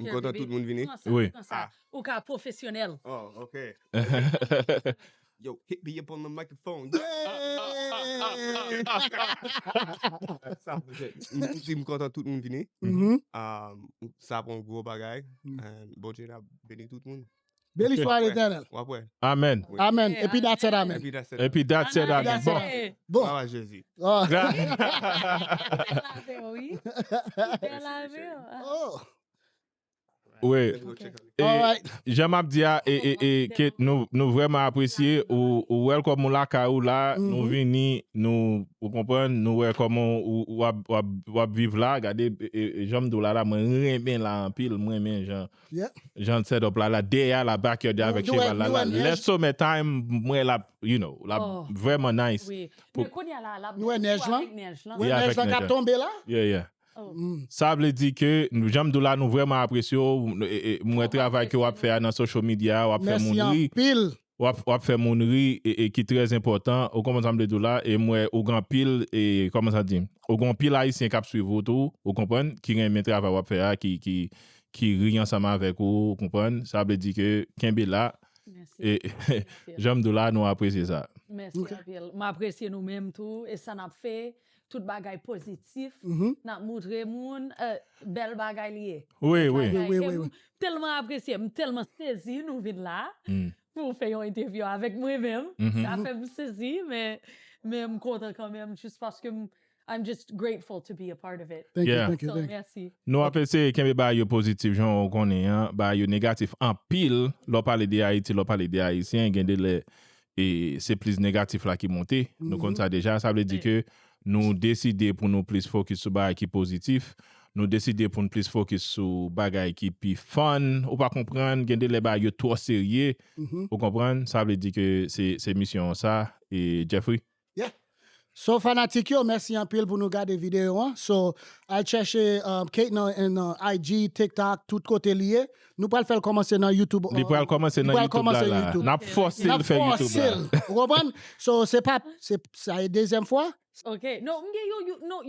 M kontan tout moun vini. Wi. Ou ka pwofesyonèl. Oh ok. Yo hit me up on the microphone. M kontan tout moun vini. Sa ap yon gwo bagay. Bondye ap beni tout moun. Beni swa letènèl. Amen. Amen epi dat sèt amen. Epi dat sèt amen bon. Bon. Glwa a jezi. Wi. Jan map di a e ke nou vreman apresye ou wèl kòm ou lakay ou la nou vini nou ou konprann nou wè kòman ou ap viv la gade janm di w la la mwen renmen la anpil mwen renmen jan Jan l set up la la dèyè a la backyard li avèk cheval la la lè somè time m wè lap you know lap vrèman nice men kounye a la lap nou wè nèj lan nou wè nèj lan kap tonbe la yeah yeah sa vle di ke jan m di w la nou vrèman apresye w m wè travay ke wap fè a nan social media a wap fè moun ri. Wap wap fè moun ri e ki trè enpòtan ou konprann sa m vle di w la e m wè ou gen anpil e kòman sa di ou gen anpil ayisyen kap swiv ou tou ou konprann ki renmen travay wap fè a ki ki ki ri ansanm avèk ou ou konprann sa vle di ke kenbe la e janm di w la nou apresye sa. Mèsi anpil. M apresye nou menm tou e sa nap fè tout bagay pozitif nap moutre moun bèl bagay li ye m tèlman apresye m tèlman sezi nou vin la pou fè yon entèvyou avèk mwen menm sa fè m sezi men m kontan kanmenm jis paske m I'm just grateful to be a part of it nou ap eseye kenbe bagay yo pozitif jan ou konnen an bagay yo negatif anpil lè w pale de Ayiti lè w pale de Ayisyen gen de lè e se plis negatif la ki monte, nou konn sa deja, sa vle di ke nou deside pou nou plis fokis sou bagay ki pozitif, nou deside pou nou plis fokis sou bagay ki pi fun, ou pa konprann, gen de lè bagay yo twò serye, ou konprann, sa vle di ke se misyon an sa, e Jeffrey? Yeah So fanatik yo mèsi anpil pou nou gade video an So al chèche Kate nan IG, tiktok tout kote li ye Nou pral fèl kòmanse nan youtube Li pral kòmanse nan youtube la la Nap fòsel fè youtube la Nap fòsel ou konprann So se pa sa e dezyèm fwa Ok No m gen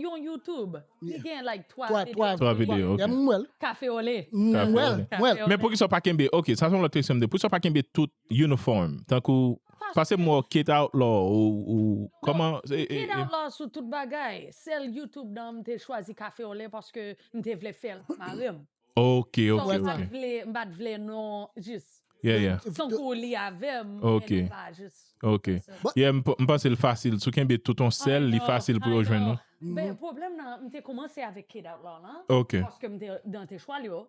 yon youtube Li gen like 3 video 3 video ok M wèl Kafe ole M wèl M wèl Men poukisa w pa kenbe ok sa son lòt kesyon m de poukisa w pa kenbe tout Uniform tankou pase m wè w kate outlaw ou kòman se e e. Kate outlaw sou tout bagay sèl YouTube nan m te chwazi cafeole paske m te vle fèl ak marim. Ok ok ok. M pat vle non jis. Yeah yeah. Tankou li avèm men li pa jis. Ok yeah m panse l fasil si w kenbe tout on sèl li fasil pou yo jwenn ou. Men pwoblèm nan m te kòmanse avèk kate outlaw lan paske m te dan te chwal yo.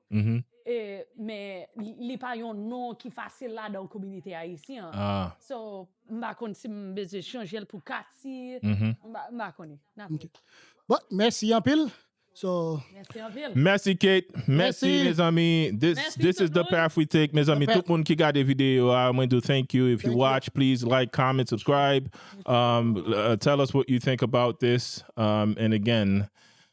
Men, li pa yon non ki fasil ladan kominite ayisyen an. So, m pa konn si m bezwen chanje l pou Kati. M pa konnen. N ap wè. Bon, mèsi anpil. So. Mèsi anpil. Mèsi Kate. Mèsi mezanmi. This is the path we take mezanmi. Tout moun ki gade videyo a, mwen di w thank you. If you watch, please like, comment, subscribe. Tell us what you think about this. And again,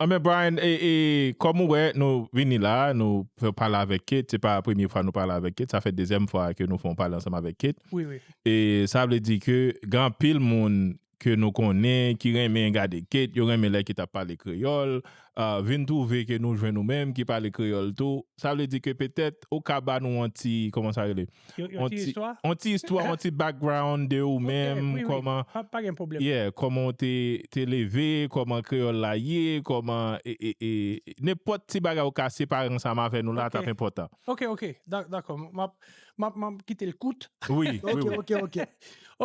Anben Brian e e kòm ou wè nou vini la a nou fè pale avèk Kate se pa premye fwa nou pale avèk Kate sa fè dezyèm fwa ke nou fè yon pale ansanm avèk Kate Wi wi. e sa vle di ke gen anpil moun ke nou konnen ki renmen gade Kate yo renmen lè Kate ap pale kreyòl a vin twouve ke nou jwenn ou menm ki pale kreyòl tou sa vle di ke petèt ou ka ba nou yon ti kòman sa rele Yon ti istwa? Yon ti istwa, yon ti background de ou menm, kòman, yeah, kòman ou te leve, kòman kreyòl la ye, kòman, nenpòt ti bagay ou ka separe ansanm avè nou la t ap enpòtan. Ok, ok, dakò, m ap kite l kout. Wi, wi, wi. Ok, ok, ok.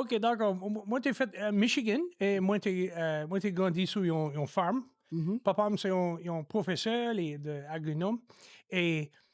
Ok, dakò, mwen te fèt Michigan e mwen te grandi sou yon farm. Papa m se yon pwofesè, li te agronome e.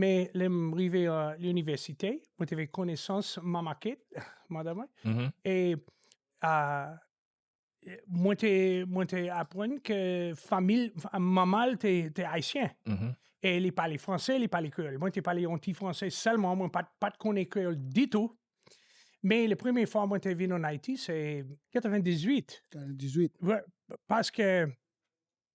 Men lè m rive a linivèsite, mwen te fè konesans Mama Kate, madanm mwen, mm-hmm. e a mwen te mwen te aprann ke famil mama l te te ayisyen. Mm-hmm. E li pale franse, li pale kreyòl. Mwen te pale yon ti franse sèlman, mwen pat pat konnen kreyòl ditou. Men le premye fwa mwen te vin an Ayiti se 98. 98. Paske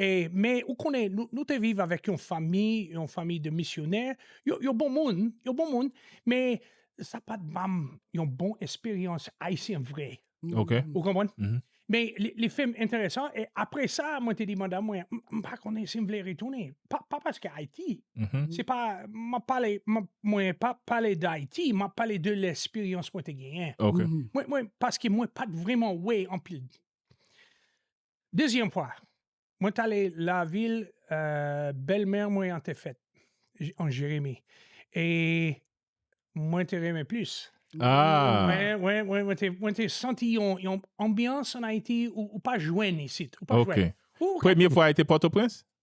E, men, ou konnen, nou, nou te viv avèk yon fanmi, yon fanmi de misyonè, yo, yo bon moun, yo bon moun, men, sa pa t ban m yon bon esperyans Ayisyen vre. Ok. Ou konprann? Mhm. Men, li, li fè m enteresan, e apre sa, mwen te di mandan mwen, m, m pa konnen si m vle retounen. Pa, pa paske Ayiti, Mhm. se pa, m ap pale, m ap, mwen pa ap pale d'Ayiti, m ap pale de lesperyans mwen te genyen. Ok. Mwen, mwen, paske mwen pa t vreman wè anpil. Dezyèm fwa, mwen t ale lavil bèlmè mwen an te fèt, an Jeremi, e mwen te renmen plis. Mwen te santi yon anbyans an Ayiti ou pa jwenn isit. Premye fwa a te Pòtoprens?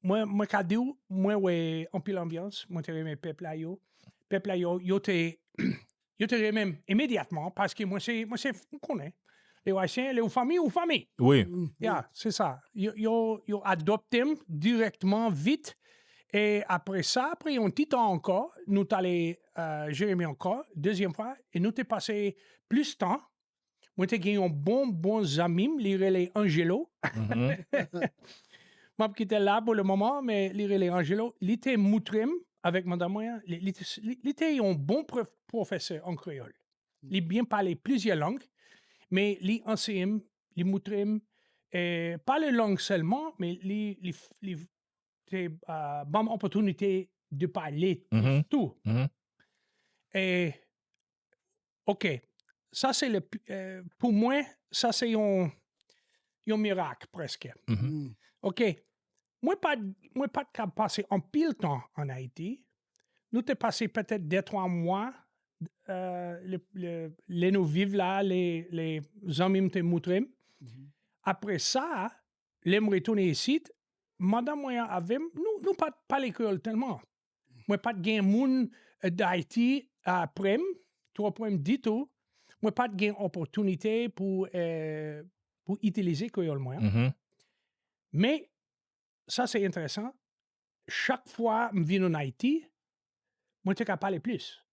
Mwen mwen ka di ou, mwen wè anpil anbyans, mwen te renmen pèp la yo. Pèp la yo, yo te yo te renmen m imedyatman paske mwen se mwen se ou konnen. Lè ou ayisyen, lè ou fanmi, ou fanmi. Wi. Ya, se sa. Yo yo yo adopte m dirèktman vit e apre sa, apre yon ti tan ankò, nou t ale Jeremi ankò, dezyèm fwa e nou te pase plis tan Mwen te gen yon bon bon zanmim li rele Angelo. Map kite l la pou le moman, men li rele Angelo. Li te moutre m avèk madam mwen an, li, li, li, li te yon bon prof, pwofesè an kreyòl. Li byen pale plizyè lang, men li anseye m, li moutre m eh, pale lang sèlman, men li, li, li te ban m opòtinite de pale tou. Eh, ok, sa se le, pou mwen, sa se yon, yon mirak prèske. Mm-hmm. Ok, mwen pa, mwen pa t kab pase anpil tan an Ayiti, nou te pase petèt de twa mwa, le, le, le nou viv la, le, le zanmi m te moutre m. Mm-hmm. Apre sa, lè m retounen isit, madanm mwen an avè m, nou, nou pa t pale kreyòl tèlman. mwen pat gen moun Dayiti prem, twò prem ditou, mwen pat gen opòtinite pou pou itilize kreyòl mwen an. Men, sa se enteresan, chak fwa m vin ann Ayiti, mwen te ka pale plis.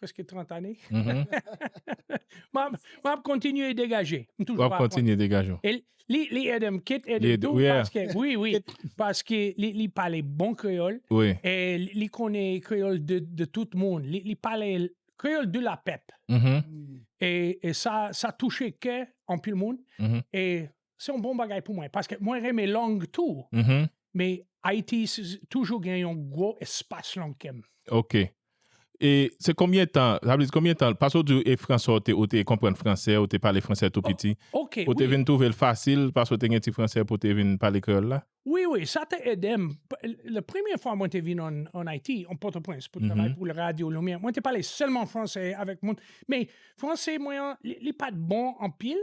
Preske 30 ane. M ap kontinye degaje. M toujou pa aprann. Li ede m kit ede m tou. Wi, wi. Paske li pale bon kreyòl. Li konnen kreyòl de tout moun. Li pale kreyòl de la pèp. E sa touche kè anpil moun. se yon bon bagay pou mwen, paske mwen renmen lang tou, mm-hmm. men Ayiti toujou gen yon gwo espas lang kèm. Ok. E se konbyen tan, zabliz konbyen tan, pasou di e franse ou te, ou te konpren franse, ou te pale franse tou piti, oh, ok, ou te vin touve l fasil, pasou te gen ti franse pou te vin pale kreyol la? Oui, oui, sa te edem, le premye fwa mwen te vin an, an Ayiti, an Port-au-Prince, pou travay pou le radio Lumière, mwen te pale selman franse avèk moun, men franse mwen an, li pat bon an pil,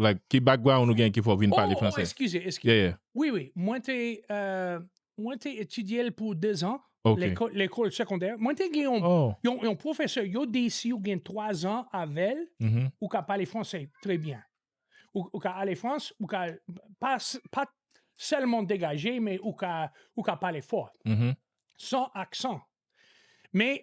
like ki background ou gen ki fè w vin pale fransè? Oh, oh, eskize, eskize. Yeah, yeah. Wi, wi, mwen te, mwen te etidye l pou dezan, lekòl segondè. Mwen te gen yon pwofesè, yo di si ou gen twazan avè l, ou ka pale fransè trè byen. Ou ka ale Frans, ou ka pa sèlman degaje, men ou ka pale fò, san aksan. Men,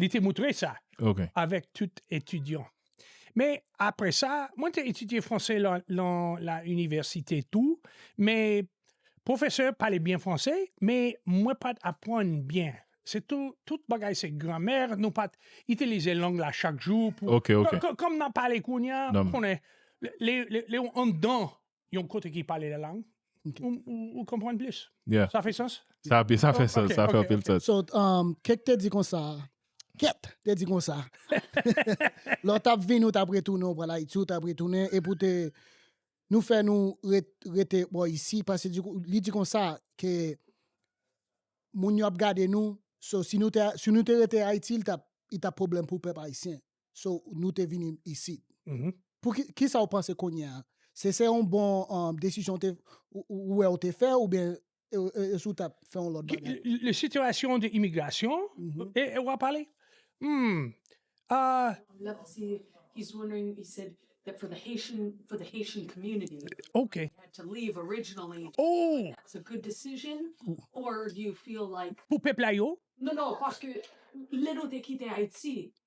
Li te moutre sa avèk tout etidyan. Men apre sa, mwen te etidye franse lan la inivèsite tou, men pwofesè pale byen franse, men mwen pa t aprann byen. Se tout bagay se gramè, nou pa t itilize lang la chak jou pou, kòm n ap pale kounye a, ou konnen, lè ou anndan Yon kote ki pale la lang. Ou konprann plis? Yeah. Sa fè sans? Sa ap- sa fè Oh, sens, ok, sa fè ok, anpil ok. sens. So, um, kèk te di konsa, kèt te di konsa. Lè w tap vini, ou tap retounen, ou pral Ayiti, ou tap retounen, e pou te, nou fè nou ret, rete bò isi, pase di, kou- li di konsa, ke moun yo ap gade nou, so si nou te, si nou te rete Ayiti, li tap, li tap pwoblèm pou pèp ayisyen. so nou te vini isit. Pou ki, ki sa ou panse kounye a? Se, se yon bon desizyon ou te, ou wè ou te fè oubyen e si ou tap fè yon lòt bagay? Le sitiyasyon de imigrasyon e ou ap pale? Humm Oke Ooh Pou pèp la yo?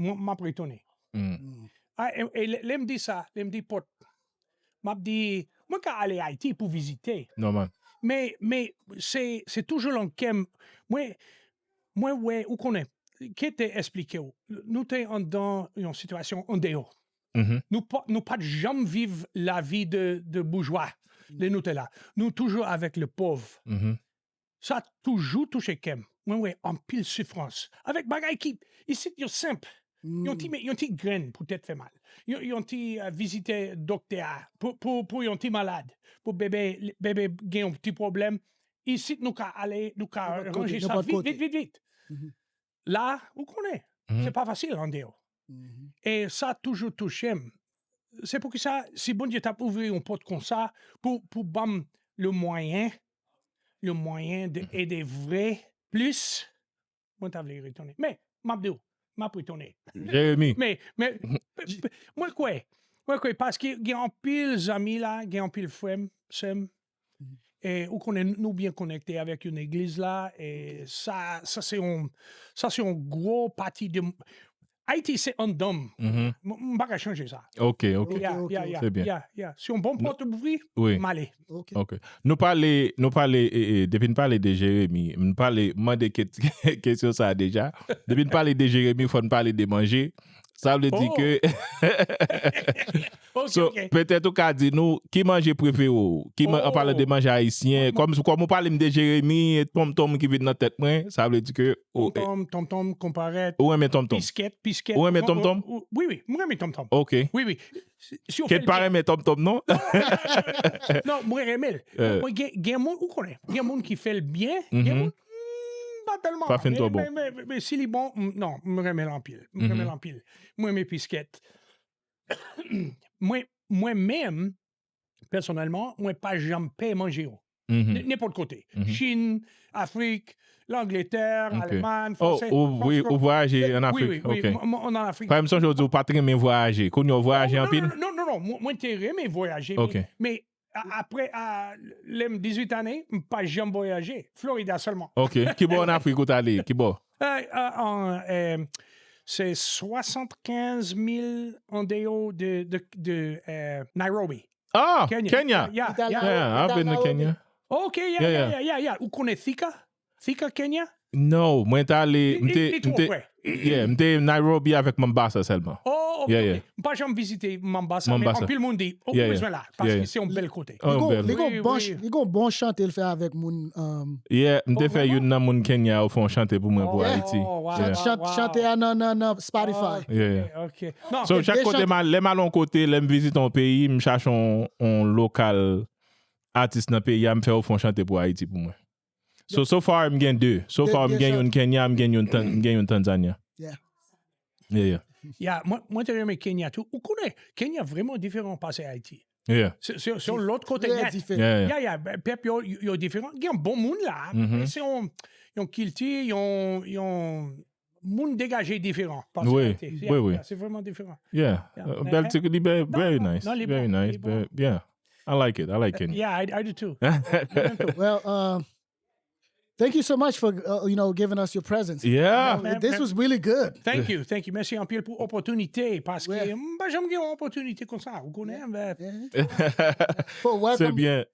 mwen map retounen. E lè m di sa, lè m di pòt, map di mwen ka ale Ayiti pou vizite. Nòmal. Men, men se toujou lan kè m, mwen, mwen wè, ou konnen, ki te esplike w, nou te anndan yon sitiyasyon andeyò. Nou pa, nou pat janm viv lavi de boujwa lè nou te la. Nou toujou avèk le pòv. Sa toujou touche kèm, mwen wè anpil sifrans avèk bagay ki isit yo senp, yon ti grenn pou tèt fè mal, yon ti vizite doktè a pou yon ti malad, pou bebe gen yon ti pwoblèm, isit nou ka ale nou ka ranje sa vit vit vit vit. la ou konnen se pa fasil andeyo e sa toujou touchem se pou kisa si Bondye tap ouvri yon pot konsa pou pou banm le mwayen le mwayen de ede vre plis mwen ta vle retonnen men map diw map retonnen Jeremi men men mwen kwè mwen kwè paske gen anpil zanmi la gen anpil frèm sèm E ou konnen nou byen konekte avèk yon egliz la, e sa sa se yon sa se yon gwo pati de Ayiti se anndan m. M m pa ka chanje sa. Ok, ok. Ya, ok, ya, ya, se byen. ya, ya. Si yon bon pòt ouvri, Oui. m ale. Ok. Ok. Nou pale, nou pale e e depi n pale de Jeremi, m pale mande ke kesyon sa deja. Depi n pale de Jeremi fò n pale de manje. Sa vle di ke... So, petèt ou ka di nou, ki manje prefere ou? Ki man, an palan de manje ayisyen, kòm ou pale m de jeremi, tonm tonm ki vin nan tèt mwen, sa vle di ke... Tonm tonm, tonm tonm, konparèt... Ou renmen tonm tonm? Piskèt, piskèt... Ou renmen tonm tonm? Wi, wi, mwen renmen tonm tonm. Ok. Wi, wi. Si ou fè l byen... Kèt pa renmen tonm tonm non? Non, mwen renmen l. Mwen gen, gen moun, ou konnen, gen moun ki fè l byen, gen moun... Pa fin tro bon. Si li bon, non, m renmen l anpil. M renmen l anpil. M renmen piskèt. Mwen menm, pèsonèlman, mwen pa janm pè manje yo. Nenpòt kote. Chin, Afrik, Langletè, Alemann, Franse. O, wi, ou vwayaje an Afrik. Wi, wi, wi, mwen an Afrik. Paske m sonje ou di ou pa t renmen vwayaje. Kounye ou vwayaje anpil? Non, non, non. Mwen te renmen vwayaje. Ok. Men, Apre lè m 18 ane, m pa janm vwayaje. Florida sèlman. Ok. Ki bò an Afrik ou t ale? Ki bò? Se 75 mil andeyò de Nairobi. Ah! Kenya? Kenya. Ou t al Nairobi? Kenya. Oh, Kenya. Ou konnen Thika? Fi ka Kenya? No, mwen te ale, m te, m te, yeah, m te Nairobi avèk Mombasa sèlman. Oh, ok, ok. M pa janm vizite Mombasa, men anpil moun di, ou bezwen la, paske se yon bèl kote. Li gon bon, li gon bon chante l fè avèk moun. Yeah, m te fè youn nan moun Kenya yo fè yon chante pou mwen pou Ayiti. Chante a nan, nan, nan Spotify. Yeah. Ok. So, chak kote m al, lè m al yon kote, lè m vizite yon peyi, m chache yon, yon lokal atis nan peyi a, m fè yo fè yon chante pou Ayiti pou mwen. So so far m gen 2. So far m gen youn Kenya m gen youn Tanzania. Yeah. Yeah yeah. Ya mwen te renmen Kenya tou. Ou konnen Kenya vreman diferan pase Ayiti. Yeah. Se se yon lòt kote Trè nèt. diferan. Yeah yeah. Ya ya ben, pèp yo yo diferan. Gen bon moun la, men se yon yon kilti, yon yon Moun degaje y diferan. Wi, wi, wi. Se vreman diferan. Yeah, bèl ti, li bèl, very nice. Non, li bon, li bon. Very nice, very, yeah. I like it, I like Kenny. Yeah, I do too. Well, thank you so much for, uh, you know, giving us your presence. Yeah. This was really good. Thank you, thank you. Mèsi anpil pou opòtinite, paske m pa janm gen yon opòtinite konsa, ou konnen, mwen. For welcome. Se byen,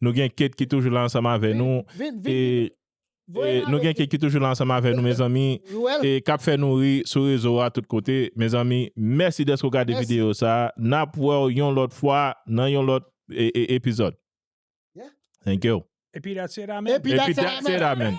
Nou gen Kate ki toujou la ansanm avè nou e Nou gen Kate ki toujou la ansanm avè nou mezanmi e kap fè nou ri sou rezo a tout kote mezanmi mèsi dèske ou gade videyo sa nap wèw yon lòt fwa nan yon lòt epizòd Thankyou Epi that's it amen Epi that's it amen.